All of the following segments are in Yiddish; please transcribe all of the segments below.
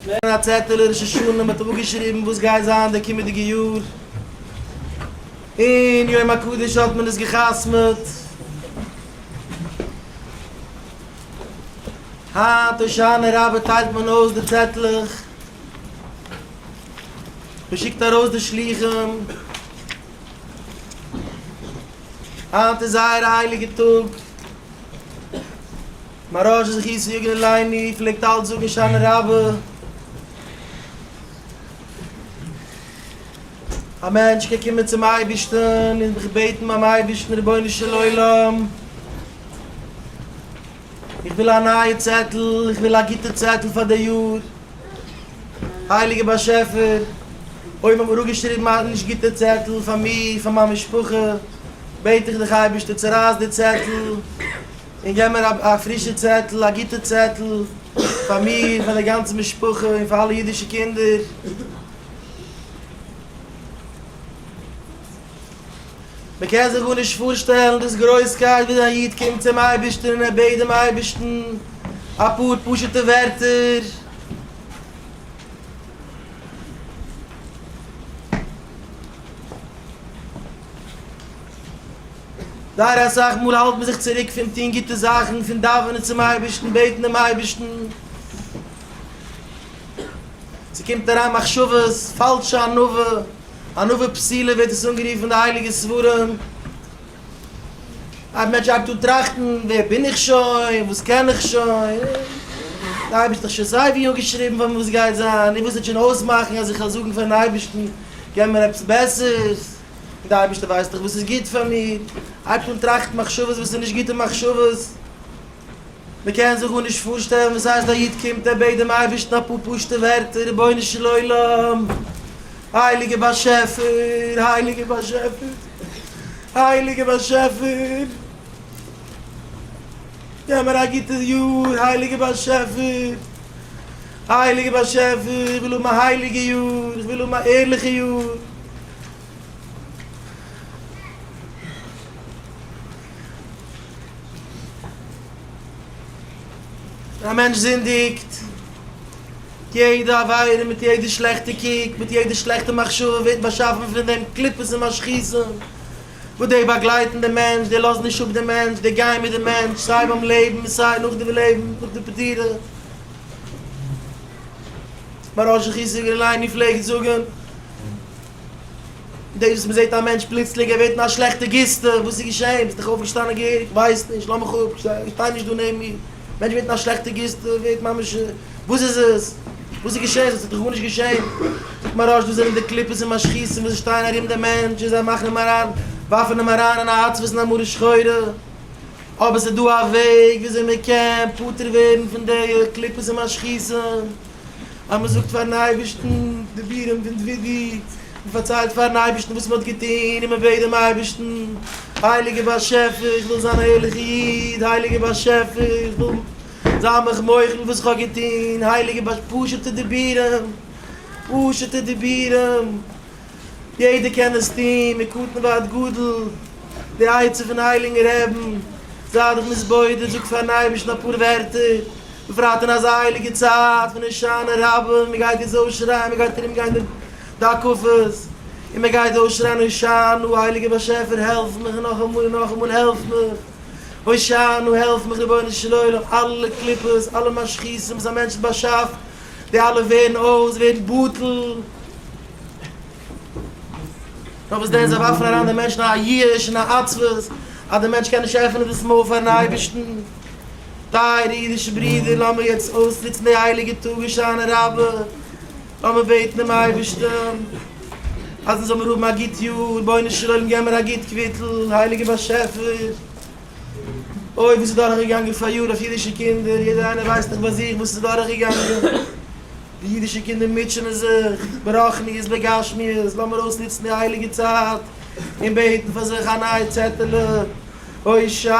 ווערן א צעטעלע ראש השנה מיט אפגעשריבן וואס גייט זיין די קומעדיגע יאר, און יום הקדוש האט מען עס געחתמעט היינט הושענה רבה טיילט מען אויס די צעטלעך, מען שיקט ארויס די שלוחים, היינט איז זייער א הייליגע טאג. מרא ש זכי' צו יגון עילאיני פלעגט אלץ זאגן שאנע רבי, א מענטש קען קומען צום אייבערשטן און זיך בעטן ביים אייבערשטן, רבונו של עולם, איך וויל א נייע צעטל, איך וויל א גוטע צעטל פאר די יאר, הייליגער באשעפער, אויב האט מען אפגעשריבן א נישט גוטע צעטל פאר מיר, פאר מיין משפחה, בעט איך דיך אייבערשטער צורייס די צעטל. און געב מיר א פרישע צעטל, א גוטע צעטל, פאר מיר, פאר די גאנצע משפחה, און פאר אלע אידישע קינדער. מען קען זיך גארנישט פארשטעלן דאס גרויסקייט וואס א איד קומט צום אייבערשטן און ער בעט דעם אייבערשטן אפאר פשוט'ע ווערטער, זייער אסאך מאל האלט מען זיך צוריק פון טון גוטע זאכן, פון דאווענען צום אייבערשטן, בעטן דעם אייבערשטן, ס'קומט אריין מחשבות, פאלשע ענווה, ענווה פסילה ווערט עס אנגערופן אין די הייליגע ספרים, א מענטש הייבט אן טראכטן, ווער בין איך שוין, וואס קען איך שוין, דער אייבערשטער האט דאך שוין סייווי אנגעשריבן פאר מיר וואס גייט זיין, און וואס וועט שוין אויסמאכן אז איך זאל זאגן פאר'ן אייבערשטן, געב מיר עפעס בעסערס. און דער אייבערשטער ווייסט דאך וואס איז גוט פאר מיר, אייב איך וויל טראכטן מחשבות וואס איז נישט גוטע מחשבות, מען קען זיך גארנישט פארשטעלן וואס הייסט א איד קומט ער בעט דעם אייבערשטן אפאר פשוטע ווערטער, רבונו של עולם, הייליגער באשעפער, הייליגער באשעפער, הייליגער באשעפער, געב מיר א גוטע יאר, הייליגער באשעפער, הייליגער באשעפער, איך וויל האבן א הייליגע יאר, איך וויל האבן א ערליכע יאר. א מענטש זינדיגט, יעדע עבירה מיט יעדע שלעכטע קוק, מיט יעדע שלעכטע מחשבה ווערט באשאפן פון דעם קליפות און משחיתים וואס די באגלייטן דעם מענטש, די לאזן נישט אפ דעם מענטש, די גייען מיט דעם מענטש סיי ביים לעבן און סיי נאך די לעבן, נאך די פטירה. מוהרא ש חיזוק דער ליינער פלעגט זאגן, דאס וואס מ'זעט א מענטש פלוצלינג ער ווערט אין א שלעכטע גיסטע, וואס איז געשען? ביסט דאך אויפגעשטאנען געהעריג, כ'ווייס נישט, לאז מיך אפ, שטיי נישט דא נעבן מיר, א מענטש ווערט אין א שלעכטע גיסטע, ווערט ממש, וואס איז עס? וואס איז געשען? ס'האט זיך דאך גארנישט געשען. זאגט מוהרא ש, דאס זענען די קליפות און משחיתים וואס שטייען ארום דעם מענטש און זיי מאכן אים אריין, ווארפן אים אריין אין א עצבות און א מרה שחורה. אבער ס'איז דא א וועג וויאזוי מ'קען פטור ווערן פון די קליפות און משחיתים. אז מען זאגט פארן אייבערשטן דיבורים פון דודי, מען פארציילט פארן אייבערשטן וואס מען האט געטון און מען בעט דעם אייבערשטן, הייליגער באשעפער איך וויל זיין א ערליכער איד, הייליגער באשעפער איך וויל זיין מיך מוחל וואס איך האב געטון, הייליגער באשעפער, פשוט'ע דיבורים, פשוט'ע דיבורים. יעדער קען עס טון מקטן ועד גדול, די עצה פון הייליגן רעבן, זיי דיך מתבודד, זאג פארן אייבערשטן אפאר ווערטער, בפרט אין אזא הייליגע צייט פון הושענא רבה, מען גייט דאס אויסשרייען, מען גייט ארומגיין די די הקפות און מען גייט אויסשרייען הושענא, הייליגער באשעפער העלף מיך, און נאכאמאל און נאכאמאל העלף מיך, הושענא, העלף מיך רבונו של עולם, אלע קליפות, אלע משחיתים וואס א מענטש האט באשאפט. די אלע ווערן אויס ווערט בטל. נאר וואס דען זיי ווארפן אריין די מענטשן אין א ייאוש און א עצבות אז די מענטש קען נישט עפענען דאס מויל פארן אייבערשטן. טייערע אידישע ברידער לאמיר יעצט אויסנוצן די הייליגע טאג הושענא רבה, לאמיר בעטן דעם אייבערשטן אז מען זאל מיר האבן א גוט יאר, רבונו של עולם געב מיר א גוט קוויטל, הייליגער באשעפער, אוי וואס איז דורך געגאנגען פאריאר אויף אידישע קינדער, יעדער איינער ווייסט דאך ביי זיך וואס איז דורך געגאנגען, די אידישע קינדער מוטשענען זיך ברחניות בגשמיות, לאמיר אויסנוצן די הייליגע צייט און בעטן פאר זיך א נייע צעטעלע הושענא.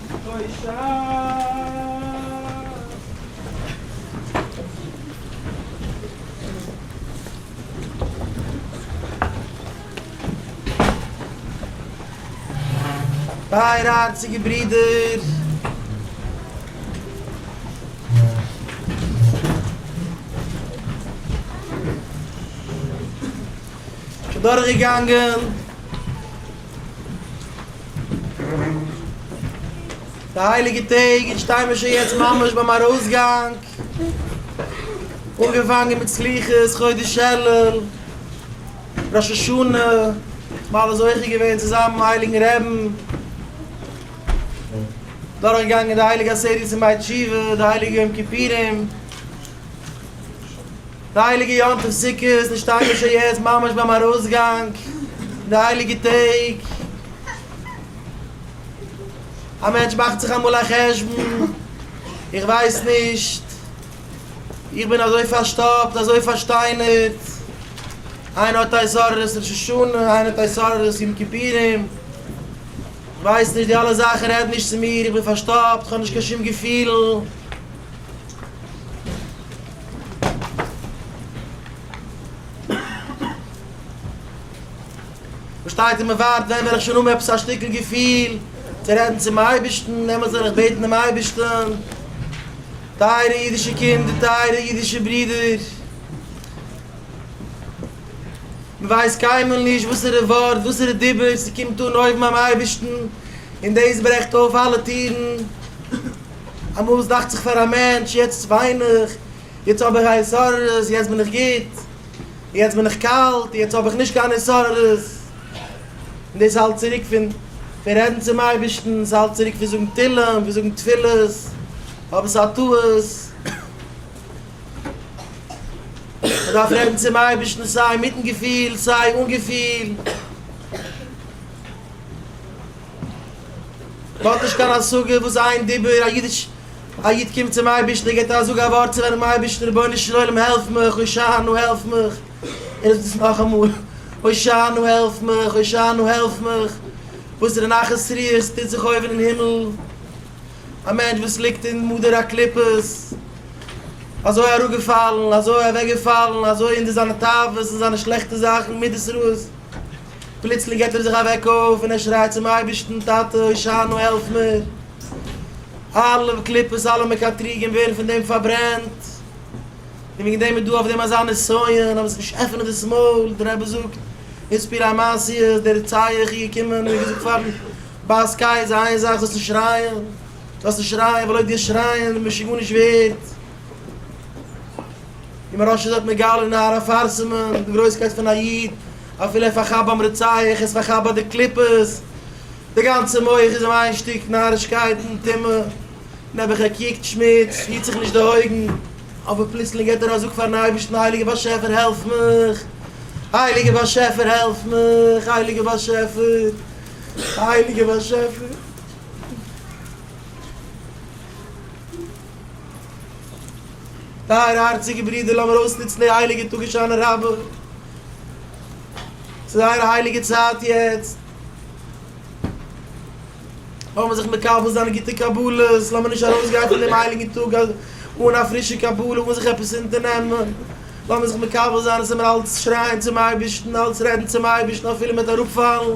טייערע הארציגע ברידער! שוין דורכגעגאנגען. די הייליגע טעג און שטיי מיר שוין יעצט ממש ביים ארויסגאנג, אנגעפאנגען מיט סליחות, חודש אלול, ראש השנה, מיר אלע זוכה געווען צו זיין ביים הייליגן רעבן, דורך געגאנגען די הייליגע עשרת ימי תשובה, די הייליגע יום כיפורים, די הייליגע יום טוב סוכות איז שטארק געשען יעצט ממש ביים ארויסגאנג פון די הייליגע טעג, א מענטש מאכט זיך אמאל א חשבון, איך ווייס נישט, איך בין אזוי פארשטאפט, אזוי פארשטיינערט, איינער האט התעוררות ראש השנה, איינער האט התעוררות יום כיפורים, כ'ווייס נישט, די אלע זאכן רעדן נישט צו מיר, איך בין פארשטאפט, כ'האב נישט קיין שום געפילן. שטייט און מען ווארט ווען וועל איך שוין האבן עפעס א שטיקל געפיל צו רעדן צום אייבערשטן, עמער זאל איך בעטן דעם אייבערשטן, טייערע אידישע קינדער, טייערע אידישע ברידער, מען ווייסט קיינמאל נישט וואסערע ווארט, וואסערע דיבור ס'קומט אן אויבן ביים אייבערשטן, און דאס ברעכט אויף אלע טירן. אמאל איז דאכט זיך פאר א מענטש יעצט וויין איך, יעצט האב איך א התעוררות, יעצט בין איך גוט, יעצט בין איך קאלט, יעצט האב איך נישט קיין התעוררות, און דאס איז אלץ צוריק פון פון רעדן צום אייבערשטן, ס'איז אלץ צוריק פון זאגן תהלים, פון זאגן תפילות, אבער ס'איז א טעות, מען דארף רעדן צום אייבערשטן סיי מיטן געפיל סיי אן געפיל. מען האט נישט קיין השגה וואס איין דיבור א אידיש א איד קומט צום אייבערשטן און געבט א זאג א ווארט צו וועלכן אייבערשטן רבונו של עולם העלף מיך הושענו העלף מיך און עס איז נאכאמאל הושענו העלף מיך הושענו העלף מיך וואסערע נחת רוח טוט זיך אויבן אין הימל א מענטש וואס ליגט אין מדר הקליפות אזוי אראפגעפאלן אזוי אוועקגעפאלן אזוי אין די זיינע תאוות אין זיינע שלעכטע זאכן מידות רעות. פלוצלינג געט ער זיך אוועק אויף און ער שרייט צום אייבערשטן, טאטע הושענא העלף מיר, אלע קליפות אלע מקטריגים ווערן פון דעם פארברענט, און וועגן דעם איז דא אויף דעם אזא נסיון, אז עס נישט עפענען דאס מויל, דער רבי זאגט, איז פיר א מעשיה, דער רציה איך איהר קומען און געזאגט פארן בעש ט איז איין זאך זאלסט נישט שרייען, זאלסט נישט שרייען ווייל אויב דו שרייען משוגעניש ווערט. און מרן שליט א האט מגלה און הארה פארסמ'ט די גרויסקייט פון א איד, אפילו ער פארכאפט ביים רוצח, ער פארכאפט ביי די קליפות, די גאנצע מח איז אים איין שטיק נארישקייטן, טומאה, נעבעך ער קוקט שמוץ, היט זיך נישט די אויגן, אבער פלוצלינג געט ער א זאג פארן אייבערשטן, הייליגער באשעפער העלף מיך, הייליגער באשעפער העלף מיך, הייליגער באשעפער, הייליגער באשעפער. טייערע הארציגע ברידער לאמיר אויסנוצן די הייליגע טאג הושענא רבה, ס'איז זייער א הייליגע צייט יעצט, לאמיר זיך מקבל זיין גוטע קבלות, לאמיר נישט ארויסגיין פון דעם הייליגן טאג אן א פרישע קבלה, אן זיך עפעס אונטערנעמען, לאמיר זיך מקבל זיין אז עמער אלץ שרייען צום אייבערשטן, אלץ רעדן צום אייבערשטן אפילו מ'וועט אראפפאלן.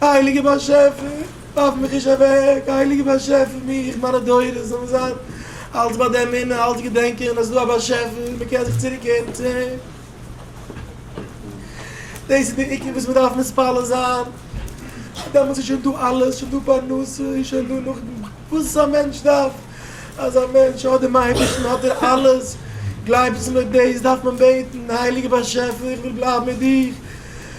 הייליגער באשעפער ווארף מיך נישט אוועק, הייליגער באשעפער מיך, מיינע דורות זאלן זיין אלץ ביי די אמונה, אלץ געדענקען אז ס'איז דא א באשעפער, מען קען זיך צוריק קערן צו אים, דאס איז די עיקר וואס מען דארף מתפלל זיין, דעמאלטס איז שוין דא אלעס, שוין דא פרנסה, איז שוין דא נאך וואס א מענטש דארף, אז א מענטש האט דעם אייבערשטן האט ער אלעס, גלייבטס מיר דאס דארף מען בעטן, הייליגער באשעפער איך וויל בלייבן מיט דיר.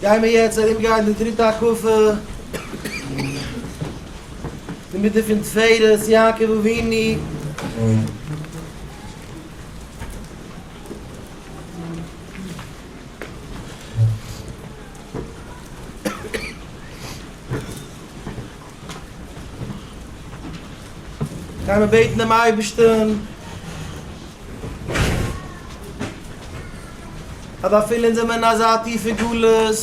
גיימער יעצט ארום גיין די דריטע הקפה אינמיטן פון תפארת יעקב אבינו. גיימער בעטן דעם אייבערשטן. אבער אפילו אונז זעמער אין אזא טיפע גלות,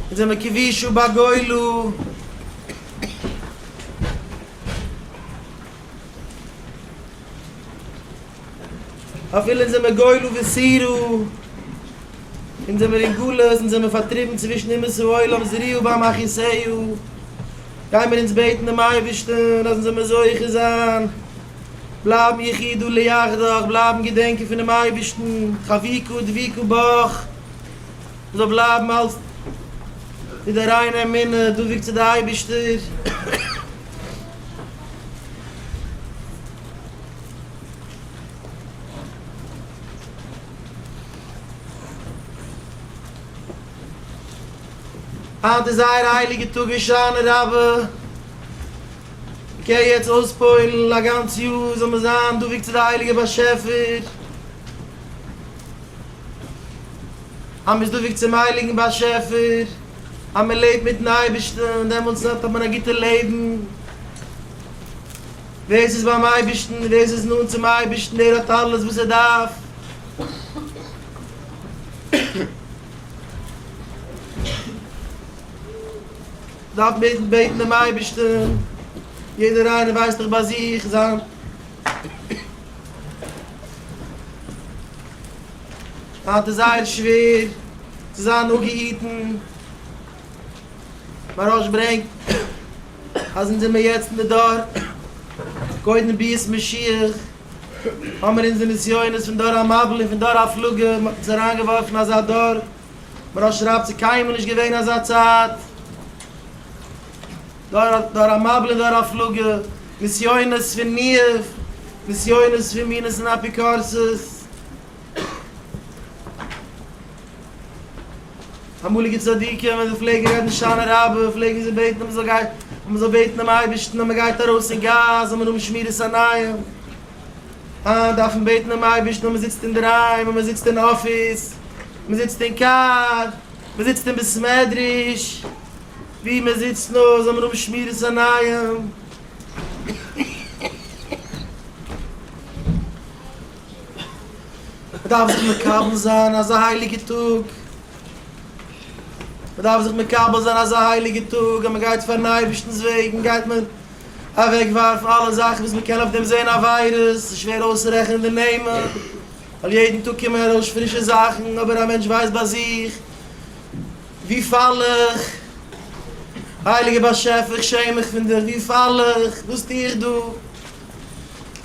אונז זעמער כבי שוא בגולה, אפילו זענען מיר גואלו וסירו, אונז זענען מיר אין גלות, אונז זענען מיר פארטריבן צווישן אומות העולם זריעה ביים אחיסעהו, גייען מיר אונז בעטן דעם אייבערשטן אז אונז זאל מיר זוכה זיין בלייבן יחידו ליחדך, בלייבן געדענקען פונעם אייבערשטן, חביקו דביקו בך, מען זאל בלייבן אלץ מיט די ריינע אמונה, דבוק צו די אייבערשטער. היינט איז זייער א הייליגע טאג הושענא רבה, מ'קען יעצט אויספוילן, א גאנץ יאר זאל מען זיין דבוק צו די הייליגע באשעפער, אז מ'איז דבוק צום הייליגן באשעפער, אז מ'לעבט מיטן אייבערשטן, דעמאלטס האט מען א גוטע לעבן. ווער ס'איז ביים אייבערשטן, ווער ס'איז נאנט צום אייבערשטן, דער האט אלעס וואס ער דארף. מ'דארף נאר בעטן דעם אייבערשטן, יעדער איינער ווייסט דאך ביי זיך זיין היינט איז זייער שווער צו זיין אפגעהיטן, מהרש א ברענגט. אז אונז זעמיר יעצט אין די דור קודם ביאת משיח, האמיר אונזער נסיונות פון דור המבול און פון דור הפלגה, מען האט אונז אריינגעווארפן אין אזא דור, מרן שרייבט ס'איז קיינמאל נישט געווען אזא צייט, דור המבול און דור הפלגה, נסיונות פון ניאוף, נסיונות פון מינות און אפיקורסות. אמאליגע צדיקים ווען זיי פלעגן רעדן שנה רבה פלעגן זיי בעטן אז מען זאל גיין אז מען זאל בעטן דעם אייבערשטן אז מען גייט ארויס אין גאס זאל מען האבן שמירת עיניים, היינט דארף מען בעטן דעם אייבערשטן אז מען זיצט אינדערהיים, אז מען זיצט אין אפיס, מען זיצט אין קאר, מען זיצט אין בית מדרש, וואו מען זיצט נאר זאל מען האבן שמירת עיניים. מ'דארף זיך מקבל זיין אזא הייליגע טאג, מ'דארף זיך מקבל זיין אזא הייליגע טאג אז מ'גייט פארן אייבערשטנ'ס וועגן, גייט מען אוועק ווארפן אלע זאכן וואס מ'קען אויף דעם זען עבירות, ס'איז שווער אויסצורעכענען די נעמען, ווייל יעדן טאג קומען ארויס פרישע זאכן, אבער א מענטש ווייסט ביי זיך, וואו פאל איך? הייליגער באשעפער, איך שעם מיך פון דיר, וואו פאל איך? וואס טו איך דא?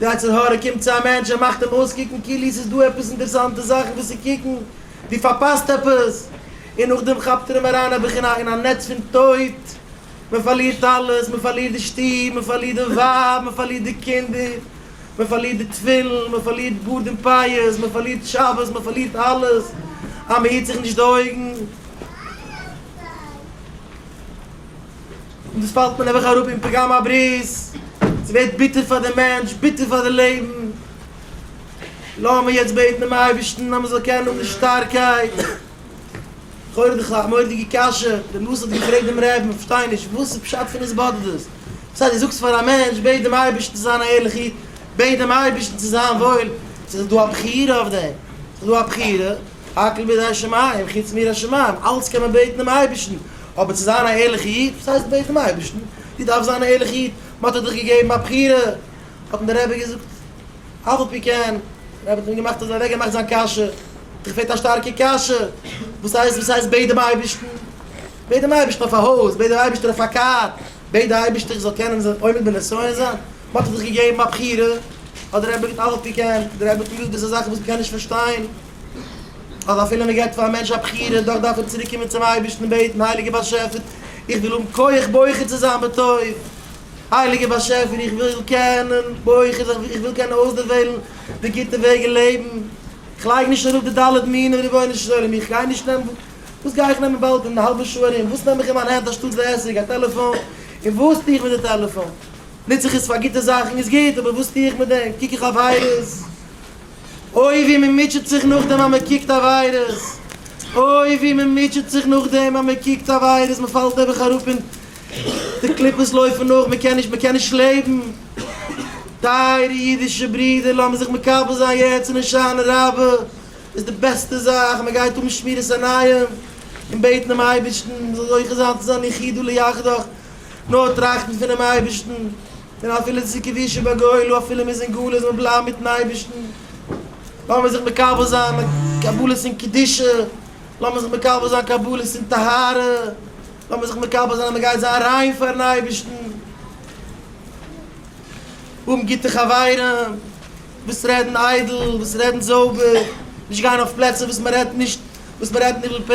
די יצר הרע קומט צו א מענטש און מאכט אים אויסקוקן כאילו ס'איז דא עפעס אינטערסאנטע זאכן וואס צו קוקן, דו פארפאסט עפעס, און נאכדעם כאפט ער אים אריין א בחינה אין א נעץ פון טויט, מען פארלירט אלעס, מען פארלירט די שטוב, מען פארלירט די ווייב, מען פארלירט די קינדער, מען פארלירט די תפילין, מען פארלירט גאר דעם פיוס, מען פארלירט שבת, מען פארלירט אלעס, אז מען היט זיך נישט די אויגן. און דאס פאלט מען נעבעך אראפ אין פגם הברית, ס'ווערט ביטער פאר די מענטש, ביטער פאר די לעבן, לאמיר יעצט בעטן דעם אייבערשטן אז מען זאל קענען האבן די שטארקייט, לכאורה דאך א מורא'דיגע קשיא, דער נשיא האט געפרעגט דעם רעבען, איך פארשטיי נישט, וואס איז פשט פון עס באדערט דאס? דאס הייסט דו זאגסט פאר א מענטש בעט דעם אייבערשטן צו זיין א ערליכע איד, בעט דעם אייבערשטן צו זיין וואויל, ס'איז דא א בחירה אויף דעם? ס'איז דא א בחירה? הכל בידי השמים, חוץ מיראת שמים, אלץ קען מען בעטן דעם אייבערשטן, אבער צו זיין א ערליכע איד, וואס הייסט בעט דעם אייבערשטן, דו דארפסט זיין א ערליכע איד, מען האט דיר דאך געגעבן א בחירה, האט אים דער רבי געזאגט, אף על פי כן, דער רבי האט אים געמאכט אזוי אוועק געמאכט זיין קשיא, דיך פעלט א שטארקע קשיא, וואס הייסט וואס הייסט בעט דעם אייבערשטן, בעט דעם אייבערשטן אויף א הויז, בעט דעם אייבערשטן אויף א קאר, בעט די אייבערשטער איך זאל קענען זיין עומד בנסיון זיין, מען האט זיך געגעבן א בחירה, האט דער רבי געטון אלעס וואס מ'קען, דער רבי האט געוואוסט דאס איז זאכן וואס מ'קען נישט פארשטיין, אז אפילו מען געבט פאר א מענטש א בחירה, דאך דארף ער צוריק קומען צום אייבערשטן און בעטן, הייליגער באשעפער, איך וויל האבן כח בוחר צו זיין בטוב, הייליגער באשעפער, איך וויל קענען בוחר זיין, איך וויל קענען אויסדערוועלן די גוטע וועג אין לעבן, איך לייג נישט אראפ די ד' מינים, רבונו של עולם, איך גיי נישט נעמען, וואס גיי איך נעמען באלד אין א האלבע שעה ארום, וואס נעם איך אין מיין הענט אנשטאט די עסק, א טעלעפאן, און וואס טו איך מיט די טעלעפאן? ניץ איך עס פאר גוטע זאכן איז גוט, אבער וואס טו איך מיט דעם? קוק איך עבירות? אוי ווי מען מוטשעט זיך נאכדעם אז מען קוקט עבירות! אוי ווי מען מוטשעט זיך נאכדעם אז מען קוקט עבירות! מען פאלט נעבעך אראפ און די קליפות לויפן נאך, מען קען נישט, מען קען נישט לעבן! טייערע אידישע ברידער, לאמיר זיך מקבל זיין יעצט אין הושענא רבה איז די בעסטע זאך, מען גייט האבן שמירת עיניים און בעטן דעם אייבערשטן מען זאל זוכה זיין צו זיין יחידו ליחדך, נאר טראכטן פונעם אייבערשטן, און אפילו צו כבישי בגולו, אפילו מ'איז אין גלות זאל מען בלייבן מיטן אייבערשטן, לאמיר זיך מקבל זיין קבלות אין קדושה, לאמיר זיך מקבל זיין קבלות אין טהרה, לאמיר זיך מקבל זיין אז מ'גייט זיין ריין פארן אייבערשטן, האבן גוטע חברים וואס רעדן איידל, וואס רעדן זויבער, נישט גיין אויף פלעצער וואס מ'רעדט נישט, וואס מ'רעדט ניבול פה.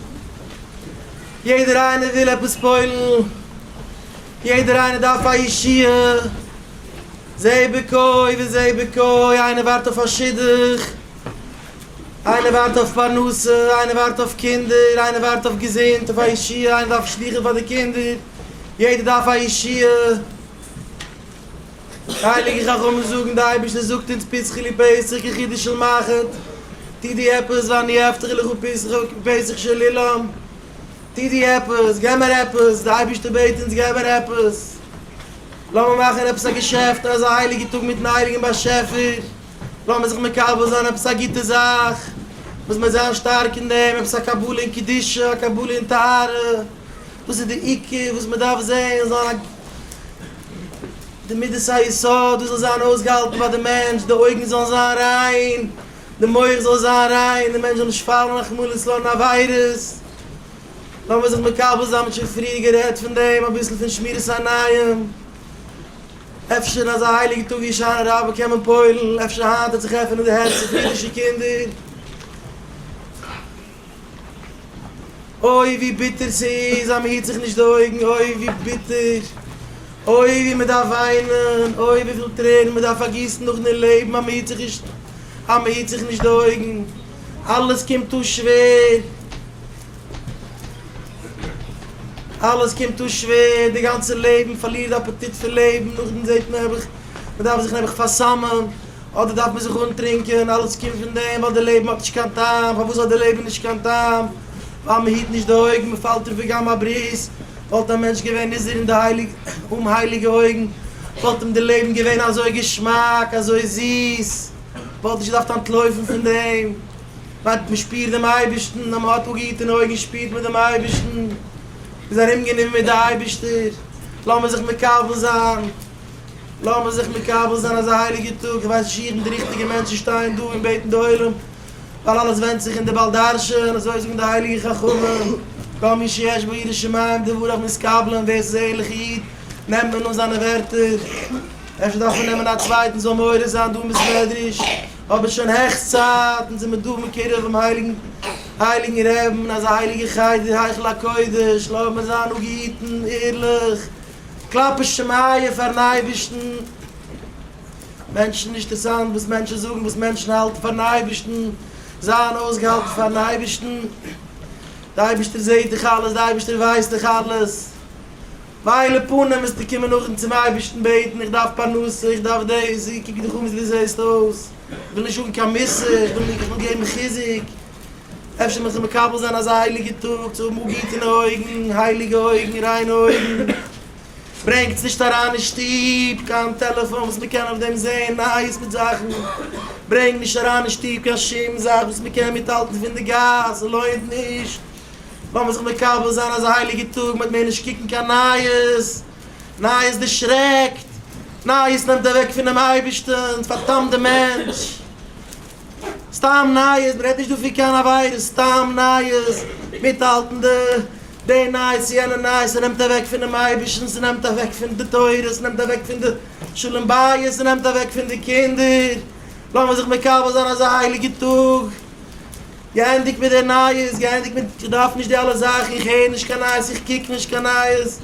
יעדער איינער וויל עפעס פועל'ן, יעדער איינער דארף א ישועה, זה בקוי' וזה בקוי', איינער ווארט אויף א שידוך, איינער ווארט אויף פרנסה, איינער ווארט אויף קינדער, איינער ווארט אויף געזונט, אויף א ישועה, איינער דארף שדוכים פאר די קינדער, יעדער דארף א ישועה. די הייליגע חכמים זאגן, די אייבערשטער זאגט אונז פסחי לי פסח כחידו של מחט, טו דו עפעס, ואני אפטר לך ופסחך כפסח של אילם, טו דו עפעס, געב מיר עפעס, די אייבערשטער בעט אונז געב מיר עפעס, לאמיר מאכן עפעס א געשעפט אזא הייליגע טאג מיטן הייליגן באשעפער, לאמיר זיך מקבל זיין עפעס א גוטע זאך וואס מיר זענען שטארק אין דעם, עפעס א קבלה אין קדושה, א קבלה אין טהרה, דאס איז די עיקר וואס מען דארף זען, זיין א. די מדת היסוד דאס זאל זיין אויסגעהאלטן ביי די מענטש, די אויגן זאלן זיין ריין, די מח זאל זיין ריין, די מענטש זאל נישט פאלן רחמנא ליצלן אין עבירות, לאמיר זיך מקבל זיין מען האט שוין פריער גערעדט פון דעם אביסל פון שמירת עיניים, אפשר אין אזא הייליגע טאג ווי הושענא רבה קען מען פועל'ן, אפשר היינט וועט זיך עפענען די הערצער פון אידישע קינדער. אוי ווי ביטער ס'איז אז מ'היט זיך נישט די אויגן, אוי ווי ביטער, אוי ווי מ'דארף וויינען, אוי וויפיל טרערן מ'דארף פארגיסן נאכן דערלעבן אז מ'היט זיך נישט, אז מ'היט זיך נישט די אויגן, אלעס קומט אן שווער, אלעס קומט אן שווער, די גאנצע לעבן פארלירט די אפעטיט פון לעבן, נאכדעם זעט מען נעבעך, מ'דארף זיך נעבעך פאר'סמ'ען. אדער דארף מען זיך אנטרינקען, אלעס קומט פון דעם ווייל די לעבן האט נישט קיין טעם, פארוואס האט די לעבן נישט קיין טעם? ווייל מען היט נישט די אויגן, מען פאלט אין פגם הברית, וואלט א מענטש געווען נזהר אין די הייליגע, אומהייליגע אויגן, וואלט אים די לעבן געווען אזוי געשמאק, אזוי זיס, מען וואלט נישט געדארפט אנטלויפן פון דעם, ווייל מען שפירט דעם אייבערשטן, אז מען האט אפגעהיטענע אויגן שפירט מען דעם אייבערשטן, מען איז ארומגענומען מיט די אייבערשטער, לאמיר זיך מקבל זיין. לאמיר זיך מקבל זיין אזא הייליגע טאג, איך ווייס נישט איך בין די ריכטיגע מענטש צו שטיין דא און בעטן די עולם, ווייל אלעס ווענדט זיך אין די בעל דרשן, אזוי זאגן די הייליגע חכמים, כל מי שיש בו יראת שמים דבריו מתקבלין, ווער ס'איז א ערליכע איד נעמט מען אן זיינע ווערטער, אפשר דארף מען נעמען א צווייטן זאל מעורר זיין דא אין בית מדרש, אבער שוין העכסט צייט, אונז זעמיר דא מקרב דעם הייליגן רעבן אין אזא הייליגע חדר היכל הקודש, לאמיר זיין נאר געהיטן, ערליך, קלאפן שמעיה פארן אייבערשטן, מענטשן נישט טערסאנט וואס מענטשן זאגן, וואס מענטשן האלטן פארן אייבערשטן, זיין אויסגעהאלטן פארן אייבערשטן, די אייבערשטער זעט דיך אלעס, די אייבערשטער ווייסט דאך אלעס, וויילע פנים וועסטו קומען נאכדעם צום אייבערשטן בעטן, איך דארף פרנסה, איך דארף דאס, איך קוק דיך אן ווי אזוי דו זעסט אויס, איך וויל נישט האבן קיין מוסר, איך וויל געבן חיזוק. אפשר מען זאל מקבל זיין אזא הייליגע טאג צו האבן גוטענע אויגן, הייליגע אויגן, ריינע אויגן, ברענגטס נישט אריין אין שטוב קיין טעלעפאן וואס מען קען אויף דעם זען נייעס מיט זאכן, ברענג נישט אריין אין שטוב קיין שום זאך וואס מען קען מיטהאלטן פון די גאס, ס'לוינט נישט, לאמיר זיך מקבל זיין אזא הייליגע טאג מעג מען נישט קוקן קיין נייעס, נייעס דערשרעקט, נייעס נעמט אוועק פונעם אייבערשטען, ס'פארדאמט די מענטש. סתם נייעס, מען רעדט נישט דא פון קיין עבירות, סתם נייעס, מיטהאלטן די די נייעס יענע נייעס, ס'נעמט אוועק פונעם אייבערשטן, ס'נעמט אוועק פון די תורה, ס'נעמט אוועק פון די שלום בית, ס'נעמט אוועק פון די קינדער, לאמיר זיך מקבל זיין אזא הייליגע טאג, געענדיגט מיט די נייעס, געענדיגט מיט, איך דארף נישט די אלע זאכן, איך הער נישט קיין נייעס, איך קוק נישט קיין נייעס,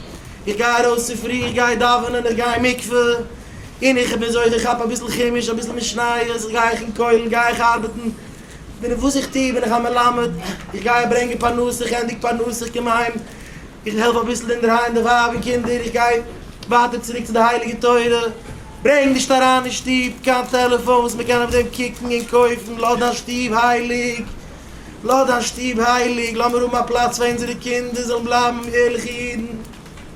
איך גיי ארויס צופרי, איך גיי דאווענען, איך גיי אין מקווה. און איך האב מיר זוכה כ'כאפ אביסל חומש אביסל משניות איך גיי איך אין כולל גיי איך ארבעטן בין איך וואס איך טוה בין איך א מלמד איך גיי ברענגען פרנסה איך ענדיג פרנסה איך קום אהיים איך העלף אביסל אינדערהיים די ווייב און קינדער איך גיי ווייטער צוריק צו די הייליגע תורה ברענג נישט אריין אין שטוב קיין טעלעפאן וואס מ'קען אויף דעם קוקן און קויפן לאז דיין שטוב הייליג לאז דיין שטוב הייליג לאמיר האבן א פלאץ פאר אונזערע קינדער זאלן בלייבן ערליכע אידן.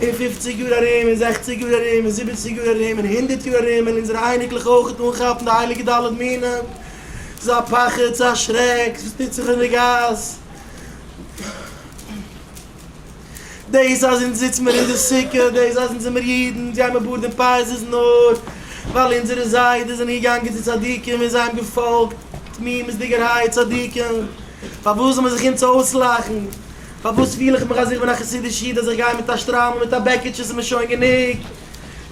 אין פופציג יאר ארום, אין זעכציג יאר ארום, אין זיבעציג יאר ארום, אין הונדערט יאר ארום, וועלן אונזערע אייניקלעך אויכעט אנכאפן די הייליגע ד' מינים. ס'איז א פחד, ס'איז א שרעק, וואס טוט זיך אין די גאס. דאס אז אונז זיצן מיר אין די סוכה, דאס אז אונז זעמיר אידן, אונז גיימיר בארד און פאות איז נאר ווייל אונזערע זיידעס זענען געגאנגען צו צדיקים און זיי האבן געפאלגט תמימות'דיגערהייט צדיקים. פארוואס זאל מען זיך אונז אויסלאכן? פארוואס פיל איך מיך אז איך בין א חסידיש איד אז איך גיי מיט א שטריימל מיט א בעקיטשע ס'איז מיר שוין גענוג?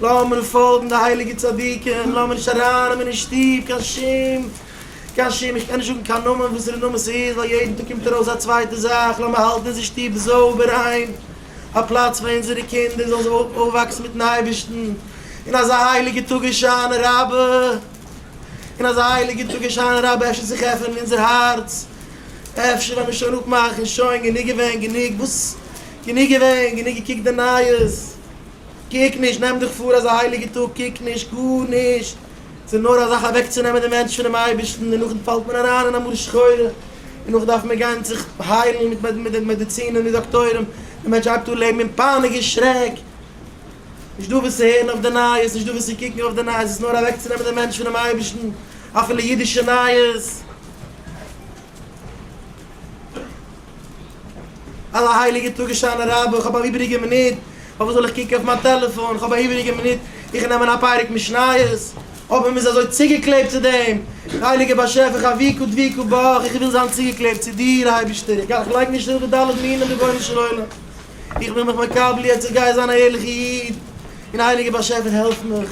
לאמיר פאלגן די הייליגע צדיקים, לאמיר נישט ארייננעמען אין שטוב קיין שום קיין שום איך קען נישט זאגן קיין נאמען וואסערע נאמען ס'איז ווייל יעדן טאג קומט ארויס א צווייטע זאך, לאמיר האלטן אונזער שטוב זויבער ריין, א פלאץ פאר אונזערע קינדער זאלן זיי אויפוואקסן מיטן אייבערשטן אין אזא הייליגע טאג הושענא רבה, אין אזא הייליגע טאג הושענא רבה אפשר זיך עפענען אונזער הארץ. אפשר ווען מ'שוין אפמאכן שוין גענוג געווען גענוג וואס גענוג געווען גענוג געקוקט די נייעס קוק נישט נעם דיך פאר אזא הייליגע טאג קוק נישט גארנישט ס'איז נאר אזאך אוועקצונעמען די מענטש פונעם אייבערשטן און נאכדעם פאלט מען אריין אין א מרה שחורה און נאך דארף מען גיין זיך היילן מיט מעדעצינען מיט דאקטוירים די מענטש הייבט אן לעבן אין פאניק אין שרעק נישט דא וואס צו הערן אויף די נייעס נישט דא וואס צו קוקן אויף די נייעס ס'איז נאר אוועקצונעמען די מענטש פונעם אייבערשטן אפילו אידישע נייעס. אַלע הײליקע טאָג, הושענא רבה, איך האָב אַן איבעריקע מינוט, פֿאַרװאָס זאָל איך קוקן אױף מײַן טעלעפֿאָן? איך האָב אַן איבעריקע מינוט, איך נעם אָן אַ פּרק משניות. אָבער מ'איז אַזױ צוגעקלעבט צו דעם הײליקן באַשעפֿער חבֿקו דבֿיקו בך, איך װיל זײַן צוגעקלעבט צו דיר, אײבערשטער. איך גיי, איך לײג נישט אָפּ די ד' מינים, רבונו של עולם. איך בין מיך מקבל יעצט, איך גיי זײַן אַ ערלעכער ייִד, און הײליקער באַשעפֿער, העלף מיך.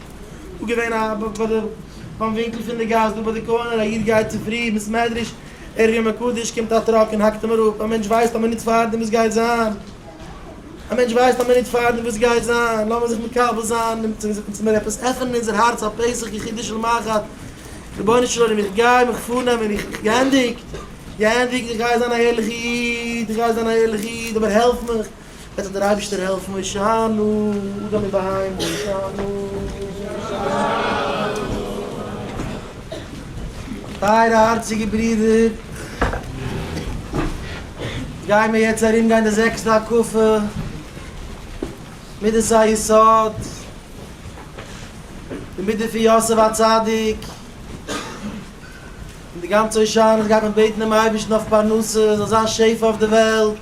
דא געווען א ביי די ביים ווינקל פון די גאס דא ביי די קארנער א איד גייט צופרי אין בית מדרש ערבים מקדש קומט א טראק און האקט אים אראפ א מענטש ווייסט א מינוט פארדעם וואס גייט זיין? א מענטש ווייסט א מינוט פארדעם וואס גייט זיין? לאמיר זיך מקבל זיין און צו אונז מיר עפעס עפענען אונזער הארץ א פסח יחידי של מחט רבונו של עולם איך גיי מיך פארנעמען איך איך געענדיגט געענדיגט איך גיי זיין א ערליכע איד איך גיי זיין א ערליכע איד אבער העלף מיך וועט זיך דער אייבערשטער העלפן הושענא אדם ובהמה הושענא. טייערע הארציגע ברידער, גייען מיר יעצט ארום גיין די זעקסטע הקפה, מידת היסוד, די מידה פון יוסף הצדיק, און די גאנצע הושענות גייט מען בעטן דעם אייבערשטן אויף פרנסה, עס זאל זיין שפע אויף די וועלט,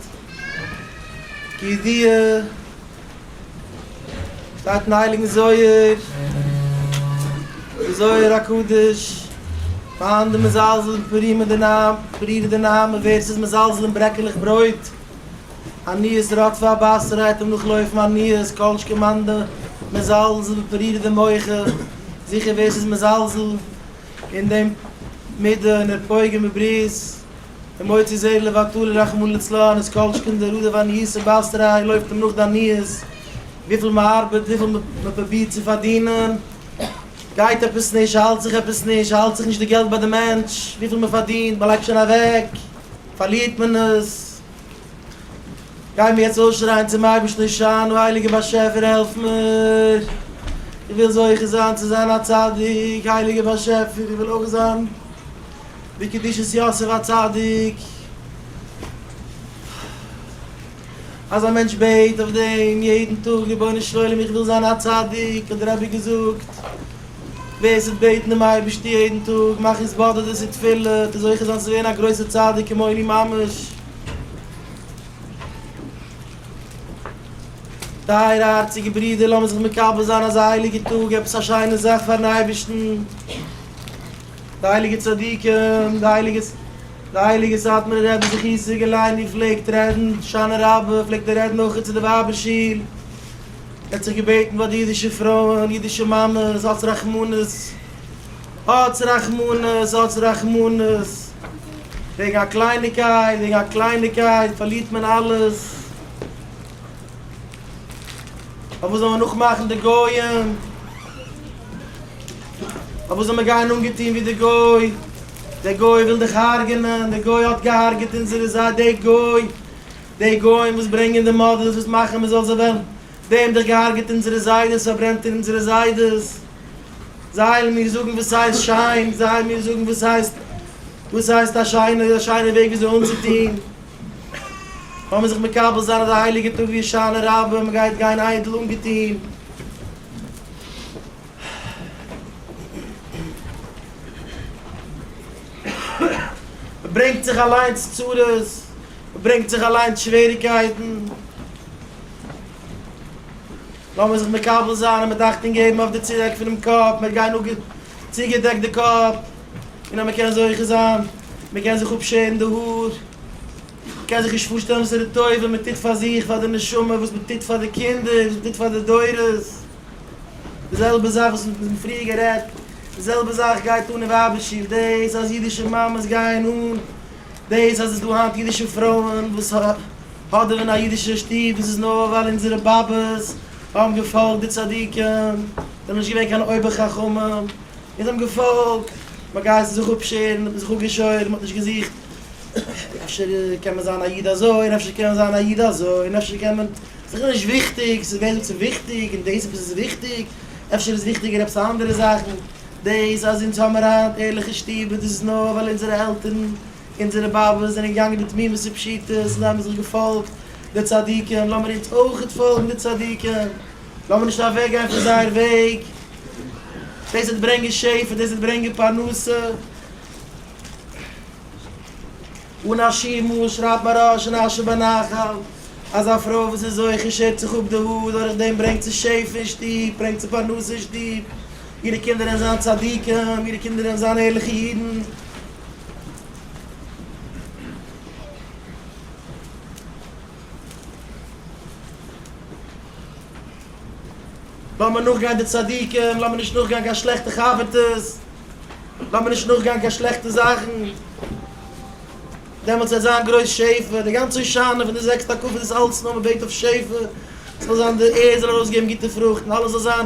כידוע שטייט אין הייליגן זוהר, אין די זוהר הקדוש, פארהאן די מזלזל בפרי מדינם, פרי דינם, און ווער עס איז מזלזל אין ברעקעלעך ברויט, עניות רדפה הבשר העט אים נאכלויפן עניות, כל שכן מאן דמזלזל בפרי דמוחא, זיכער ווער עס איז מזלזל אין דעם מידה און נתפויג און בברית און מוציא זעיר לבטלה רחמנא לצלן איז קאלטשקין דער רודער פארן יסור בייסטעריי לויפט אים נאך די עניות וויפיל מען ארבעט וויפיל מען פרובירט צו פארדינען גייט עפעס נישט האלט זיך עפעס נישט האלט זיך נישט די געלט ביי די מענטש וויפיל מען פארדינט מען לייגט שוין אוועק פארלירט מען עס. גיי מיר יעצט אויסשרייען צום אייבערשטן הושענא הייליגער באשעפער העלף מיר, איך וויל זוכה זיין צו זיין א צדיק, הייליגער באשעפער איך וויל אויך זיין בקדושת יוסף א צדיק, אז א מענטש בעט אויף דעם יעדן טאג רבונו של עולם איך וויל זיין א צדיק האט דער רבי געזאגט, ווער ס'וועט בעטן דעם אייבערשטן יעדן טאג מאך התבודדות ותפילה וועט ער זוכה זיין צו ווערן א גרויסער צדיק כמוני ממש. טייערע הארציגע ברידער, לאמיר זיך מקבל זיין אזא הייליגע טאג, עפעס א שיינע זאך פארן אייבערשטן. די הייליגע צדיקים, די הייליגע די הייליגע סאטמארער רבי זכי' זיגעלייט ווי ער פלעגט רעדן, הושענא רבה, פלעגט ער רעדן אויך צו די ווייבער שול, ער האט זיך געבעטן ביי די אידישע פרויען, אידישע מאמעס, אלץ רחמנות. האטס רחמנות, האטס רחמנות, וועגן א קלייניקייט, וועגן א קלייניקייט פארלירט מען אלעס, פארוואס זאל מען נאכמאכן די גויים, פארוואס זאל מען גיין אנגעטון ווי די גוי, דער גוי וויל דיך הארגענען, דער גוי האט געהארגעט אונזערע זיידע, דער גוי, די גוים וואס ברענגען די מאדעלס וואס מאכן מען זאל זיי וועלן, די האבן דיך געהארגעט אונזערע זיידעס, פארברענט אונזערע זיידעס. זייל מיר זאגן וואס הייסט שיין, זייל מיר זאגן וואס הייסט, וואס הייסט א שיינע, א שיינע וועג ווי אזוי אנצוטוהן, לאמיר זיך מקבל זיין אז די הייליגע טאג ווי הושענא רבה, מען גייט גיין איידל אנגעטוהן. מען ברענגט זיך אליינס צרות, מען ברענגט זיך אליינס שוועריקייטן. לאמיר זיך מקבל זיין און מיט אכטונג געבן אויף די צורעק פונעם קאפ, מיר גייען נאך צוגעדעקט די קאפ, און אז מען קען זוכה זיין, מען קען זיך אפשערן די האר, מען קען זיך נישט פארשטעלן וואס איז די טובה מען טוט פאר זיך, פאר די נשמה, וואס מען טוט פאר די קינדער, וואס מען טוט פאר די דורות, די זעלבע זאך וואס מיר האבן פריער גערעדט, די זעלבע זאך גייט אן אין ווייבער שול, דאס אז אידישע מאמעס גייען אן דאס, אז עס איז דא היינט אידישע פרויען וואס. אדער אין א אידישער שטוב איז עס נאר ווייל אונזערע באבעס האבן געפאלגט די צדיקים, זיי האבן נישט געווען קיין אויבער חכמים, און זיי האבן געפאלגט, מען גייט זיך אפשערן, מען האט זיך אפגעשוירן, מען האט נישט געזוכט, אפשר קען מען זיין א איד אזוי און אפשר קען מען זיין א איד אזוי און אפשר קען מען, ס'איז נישט וויכטיג, ס'איז ווער זאגט ס'איז וויכטיג און דאס עפעס איז וויכטיג, אפשר איז וויכטיגער עפעס אנדערע זאכן, דאס אז אונז האבן היינט ערליכע שטובער דאס איז נאר ווייל אונזערע עלטערן אונזערע באבעס זענען געגאנגען בתמימות ופשיטות און זיי האבן זיך געפאלגט די צדיקים, לאמיר אונז אויכעט פאלגן די צדיקים, לאמיר נישט אוועקגיין פון זייער וועג, דאס וועט ברענגען שפע, דאס וועט ברענגען פרנסה. אן א שימוש שרייבט מהרש אין אשר בנחל אז א פרוי וואס איז אויך און שערט זיך אפ די האר דורך דעם ברענגט זי שפע אין שטוב, ברענגט זי פרנסה אין שטוב, אירע קינדער וועלן זיין צדיקים, אירע קינדער וועלן זיין ערליכע אידן. לאמיר נאכגיין די צדיקים, לאמיר נישט נאכגיין קיין שלעכטע חבר'טעס, לאמיר נישט נאכגיין קיין שלעכטע זאכן, דעמאלטס וועט זיין גרויס שפע, די גאנצע הושענא פון די זעקסטע הקפות איז אלץ נאר מען בעט אויף שפע, ס'זאל זיין די ערד זאל ארויסגעבן גוטע פרוכטן, אלעס זאל זיין.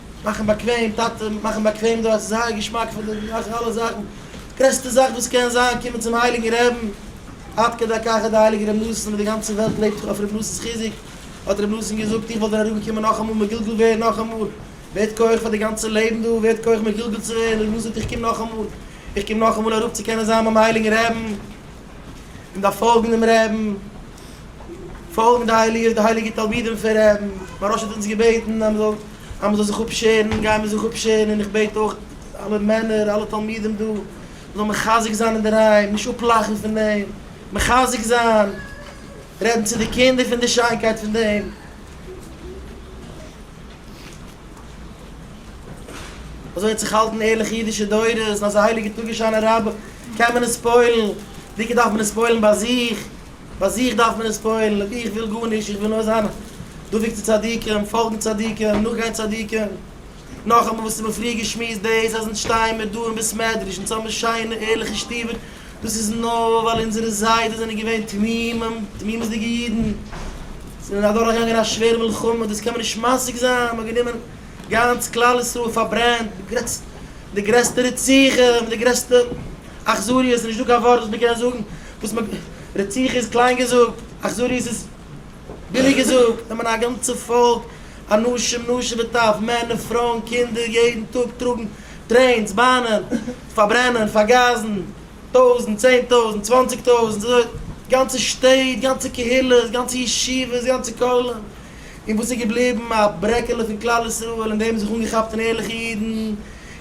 מאכן באקוועם טאטע, מאכן באקוועם דארט, ס'איז זייער געשמאק פון די, מאכן אלע זאכן, גרעסטע זאך וואס קען זיין, קומען צום הייליגן רעבן, עד כדי כך אז די הייליגע רבי נחום וואס די גאנצע וועלט לעבט אויף רבי נחום'ס חיזוק, האט רבי נחום געזאגט איך וועל דיר אריבערקומען נאכאמאל מגולגל ווערן נאכאמאל, ווערט כח פאר די גאנצע לעבן דא, ווערט כח מגולגל צו ווערן, רבי נחום זאגט איך קום נאכאמאל, איך קום נאכאמאל אראפ צו קענען זיין ביים הייליגן רעבן, און דארף פאלגן דעם רעבן. פאלגענדע העליע איז די הייליגע תלמידים פון רבי מהרא ש האט אונז געבעטן אז מען זאל זיך אפשערן, גייען מיר זיך אפשערן און איך בעט אויך אלע מענער אלע תלמידים דא מען זאל מחזק זיין אינדערהיים נישט אפלאכן פון דעם מחזק זיין רעדן צו די קינדער פון די שיינקייט פון דעם. אזוי האט זיך געהאלטן ערליכע אידישע דורות, אזא הייליגע טאג און שיינע רבי קען מען עס פועל'ן, דוקא דארף מען עס פועל'ן ביי זיך. ביי זיך דארף מען עס פועל'ן, אויב איך וויל גארנישט, איך וויל נאר זיין דבוק צו צדיקים, פאלגן צדיקים, נאכגיין צדיקים. נאכאמאל וואס האט מען פריער געשמועסט, דאס אז אונז שטייען מיר דא אין בית מדרש, אונז האבן שיינע ערליכע שטובער, דאס איז נאר ווייל אונזערע זיידעס זענען געווען תמימים, תמימות'דיגע אידן, זענען אדורכגעגאנגען א שווערע מלחמה, דאס קען מען נישט משיג זיין, מ'האט גענומען גאנץ כלל ישראל פארברענט, די גרעסטע רציחה, מיט די גרעסטע אכזריות, ס'איז נישטא קיין ווארט וואס מ'קען זאגן וואס מ. רציחה איז קליין געזאגט, אכזריות איז ביליג געזאגט, נעמען א גאנצע פאלק, אנשים נשים וטף, מענער פרויען קינדער, יעדן טאג טראגן טרעינס, באנען, פארברענען, פארגאזן, טויזנט, צען טויזנט, צוואנציג טויזנט, גאנצע שטעט, גאנצע קהילות, גאנצע ישיבות, גאנצע כוללים, און וואס איז געבליבן? א ברעקעלע פון כלל ישראל, און די האבן זיך אנגעכאפט אין ערליכע אידן,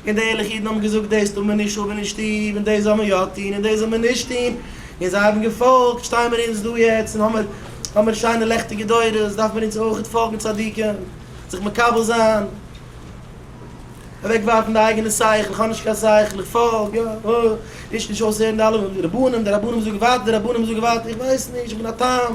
און די ערליכע אידן האבן געזאגט, דאס טאר מען נישט האבן אין שטוב, און דאס זאל מען יא טון, און דאס זאל מען נישט טון, און זיי האבן געפאלגט, שטיי מיר אונז דא יעצט, און האמיר האמיר שיינע לעכטיגע דורות, דארף מען אונז אויכעט פאלגן צדיקים, זיך מקבל זיין, אוועקווארפן די אייגענע שכל, איך האב נישט קיין שכל, איך פאלג, יא, הו, רישט נישט אויס הערן די אלע רבנים, די רבנים זאגן ווייטער, די רבנים זאגן ווייטער, איך ווייס נישט, איך בין א תם.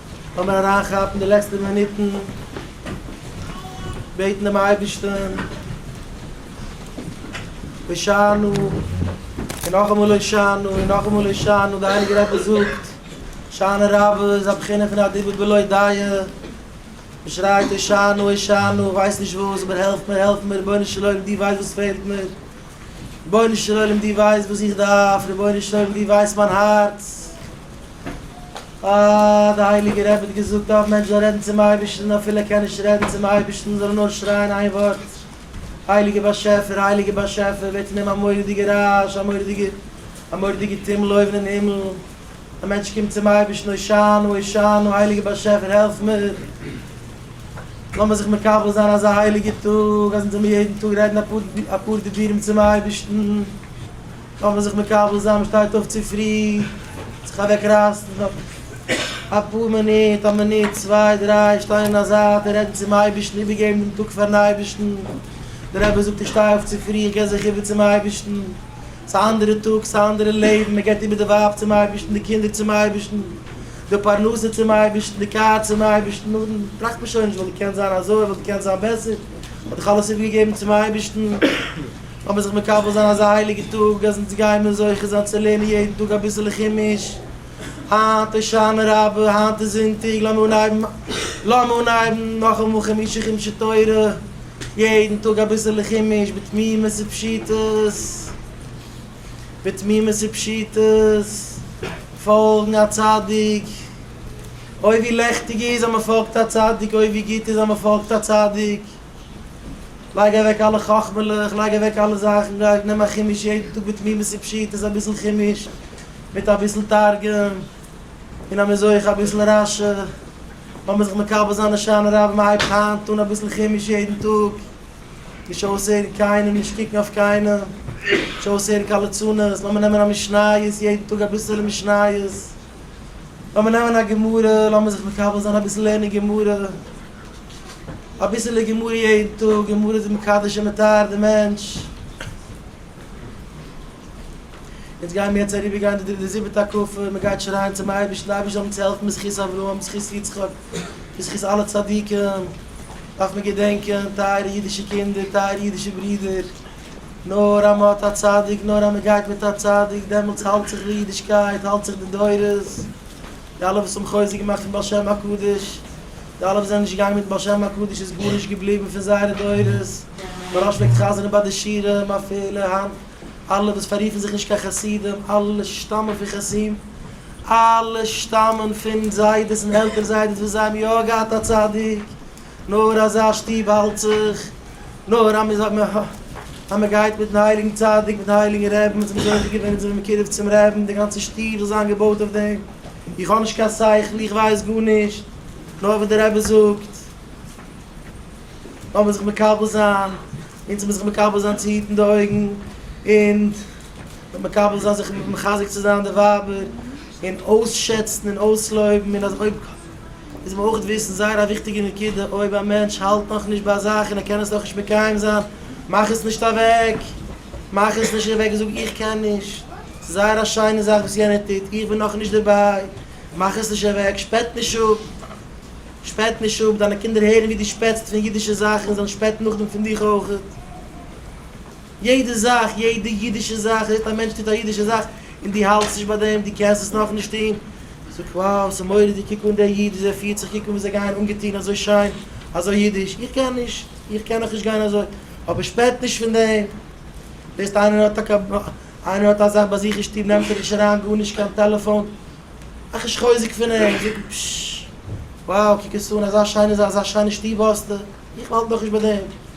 לאמיר אריינכאפן די לעצטע מינוטן, בעטן דעם אייבערשטן, הושענא, און נאכאמאל הושענא, און נאכאמאל הושענא, דער הייליגער רבי זאגט, הושענא רבה איז א בחינה פון א דיבור בלא דיעה, מען שרייט הושענא, הושענא, איך ווייס נישט וואס, אבער העלף מיר, העלף מיר, רבונו של עולם, דו ווייסט וואס פעלט מיר, רבונו של עולם, דו ווייסט וואס איך דארף, רבונו של עולם, דו ווייסט מיין הארץ. אה, דער הייליגער רבי האט געזאגט, אויב מענטש זאל רעדן צום אייבערשטן, אפילו ער קען נישט רעדן צום אייבערשטן, זאל ער נאר שרייען איין ווארט, הייליגער באשעפער, הייליגער באשעפער, ווערט פון אים א מורא'דיגע רעש, א מורא'דיגע, א מורא'דיגע טומל אויבן אין הימל, דער מענטש קומט צום אייבערשטן, הושענא, הושענא, הייליגער באשעפער, העלף מיר, לאמיר זיך מקבל זיין אזא הייליגער טאג, אז אונז זאל מיר יעדן טאג רעדן אפאר דיבורים צום אייבערשטן. קען מען זיך מקבל זיין מ'שטייט אויף צופרי, זיך אוועק רייסן אפאר מינוט, א מינוט צוויי דריי, שטיין אין א זייט און רעדן צום אייבערשטן, איבערגעבן דעם טאג פארן אייבערשטן, דער רבי זאגט איך שטיי אויף צופרי, איך גיב זיך איבער צום אייבערשטן, ס'איז א אנדערע טאג, ס'איז א אנדערע לעבן, מען גיבט איבער די ווייב צום אייבערשטן, די קינדער צום אייבערשטן, די פרנסה צום אייבערשטן, די קאר צום אייבערשטן, נאכדעם טראכט מען שוין נישט, וואלט געקענט זיין אזוי, וואלט געקענט זיין בעסער, כ'האב דאך אלעס איבערגעגעבן צום אייבערשטן. לאמיר זיך מקבל זיין אזא הייליגע טאג אז אונז גייען מיר זוכה זיין צו לערנען יעדן טאג אביסעלע חומש. היינט איז שנה רבה, היינט איז זונטאג, לאמיר אנהייבן לאמיר אנהייבן נאכאמאל חומשי חומשי תורה, יעדן טאג אביסעלע חומש בתמימות ופשיטות, בתמימות ופשיטות, פאלגן א צדיק, אוי ווי לעכטיג איז אז מען פאלגט א צדיק, אוי ווי גוט איז אז מען פאלגט א צדיק. לייג אוועק אלע חכמה'לעך, לייג אוועק אלע זאכן, גיי נעם א חומש יעדן טאג בתמימות ופשיטות אביסל חומש, מיט אביסל תרגום, און אז מען איז אויך אביסל רשע, לאמיר זיך מקבל זיין הושענא רבה, מען הייבט היינט אן אביסל חומש יעדן טאג, נישט אויסהערן קיינעם, נישט קוקן אויף קיינעם, נישט אויסהערן קיין ליצנות, לאמיר נעמען א משניות יעדן טאג אביסעלע משניות. לאמיר נעמען א גמרא, לאמיר זיך מקבל זיין אביסל לערנען גמרא, אביסעלע גמרא יעדן טאג, גמרא איז מקדש און מטהר די מענטש, אונז גיימיר יעצט אריבער גיין די די זיבעטע הקפה, מען גייט שרייען צום אייבערשטן, די אייבערשטער זאל אונז העלפן בזכות אברהם, בזכות יצחק, בזכות אלע צדיקים, דארף מען געדענקען, טייערע אידישע קינדער, טייערע אידישע ברידער, נאר אז מען האט א צדיק, נאר אז מען גייט מיט א צדיק, דעמאלטס האלט זיך די אידישקייט, האלט זיך די דורות, די אלע וואס האבן חוזק געמאכט פון בעל שם הקדוש, די אלע וואס זענען נישט געגאנגען מיט בעל שם הקדוש איז גארנישט געבליבן פון זייערע דורות, מוהראש פלעגט חזר'ן ביי די שירים אפילו היינט, אלע וואס פאררופן זיך נישט קיין חסידים, אלע שטאמען פון חתים, אלע שטאמען פון זיידעס און עלטער זיידעס וואס זיי האבן יא געהאט א צדיק, נאר אזא שטוב האלט זיך נאר אז מען גייט מיטן הייליגן צדיק מיטן הייליגן רעבן און זיך זוכה געווען און זיך מקרב צום רעבן די גאנצע שטוב זאל זיין געבויט אויף דעם, איך האב נישט קיין שכל איך ווייס גארנישט נאר וואס די רבי זאגט לאמיר זיך מקבל זיין, אונז מוז זיך מקבל זיין צו היטן די אויגן און זיך מקבל זיין זיך מחזק צו זיין די ווייבער און אויסשעצן און אויסלויבן און אז אויב. מוז מען אויך וויסן זייער א וויכטיגע נקודה, אויב א מענטש האלט נאך נישט ביי א זאך און ער קען עס נאך נישט מקיים זיין, מאך עס נישט אוועק, מאך עס נישט אוועק, זאג איך קען נישט, ס'איז זייער א שיינע זאך וואס יענער טוט, איך בין נאך נישט דערביי, מאך עס נישט אוועק, שפעט נישט אפ, שפעט נישט אפ, דיינע קינדער הערן ווי דו שפעטסט פון אידישע זאכן, זיי וועלן שפעטן נאכדעם פון דיך אויך. יעדע זאך, יעדע אידישע זאך, זעט א מענטש טוט א אידישע זאך, און דו האלטסט נישט ביי דעם, דו קענסט עס נאך נישט טון, דו זאגסט wow, ס'איז מורא'דיג, קוק אן דער איד, וויאזוי ער פירט זיך, קוק אן ווי זיי גייען אנגעטון אזוי שיין, אזוי אידיש, איך קען נישט, איך קען נאך נישט גיין אזוי, אבער שפעט נישט פון דעם, זעסט איינער האט א, איינער האט א זאך ביי זיך אין שטוב נעמט ער נישט אריין גארנישט קיין טעלעפאן, מאך נישט חוזק פון אים, זאג אים פששש, wow, קוק עס אן, אזא שיינע זאך, אזא שיינע שטוב האסטו, איך האלט נאך נישט ביי דעם.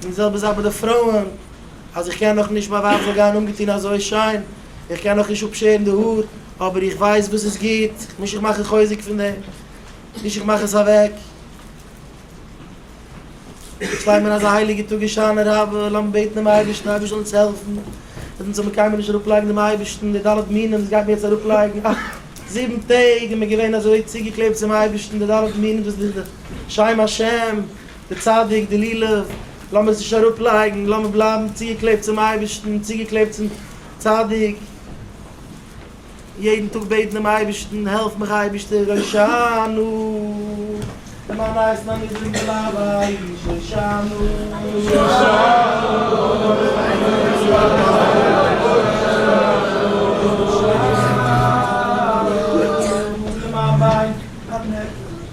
די זעלבע זאך ביי די פרויען, אז איך קען נאך נישט, מיין ווייב זאל גיין אנגעטון אזוי שיין, איך קען נאך נישט אפשערן די האר, אבער איך ווייס וואס איז גוט, נישט איך מאך א חוזק פון דעם, נישט איך מאך עס אוועק. איך שטיי מיר אזא הייליגע טאג הושענא רבה, לאמיר בעטן דעם אייבערשטן, אייבערשט זאל אונז העלפן, אז אונז זאל מיר קיינמאל נישט אראפלייגן דעם אייבערשטן, די ד' מינים וואס גייט מיר יעצט אראפלייגן, אה, זיבן טעג איז מען געווען אזוי צוגעקלעבט צום אייבערשטן, די ד' מינים דאס איז דאך די שם השם, דער צדיק, די לולב, לאמיר עס נישט אראפלייגן, לאמיר בלייבן צוגעקלעבט צום אייבערשטן, צוגעקלעבט צום צדיק, יעדן טאג בעטן דעם אייבערשטן, העלף מיך אייבערשטער, הושענא, למען נייעס מיין נידריגן בלייב איך, הושענא.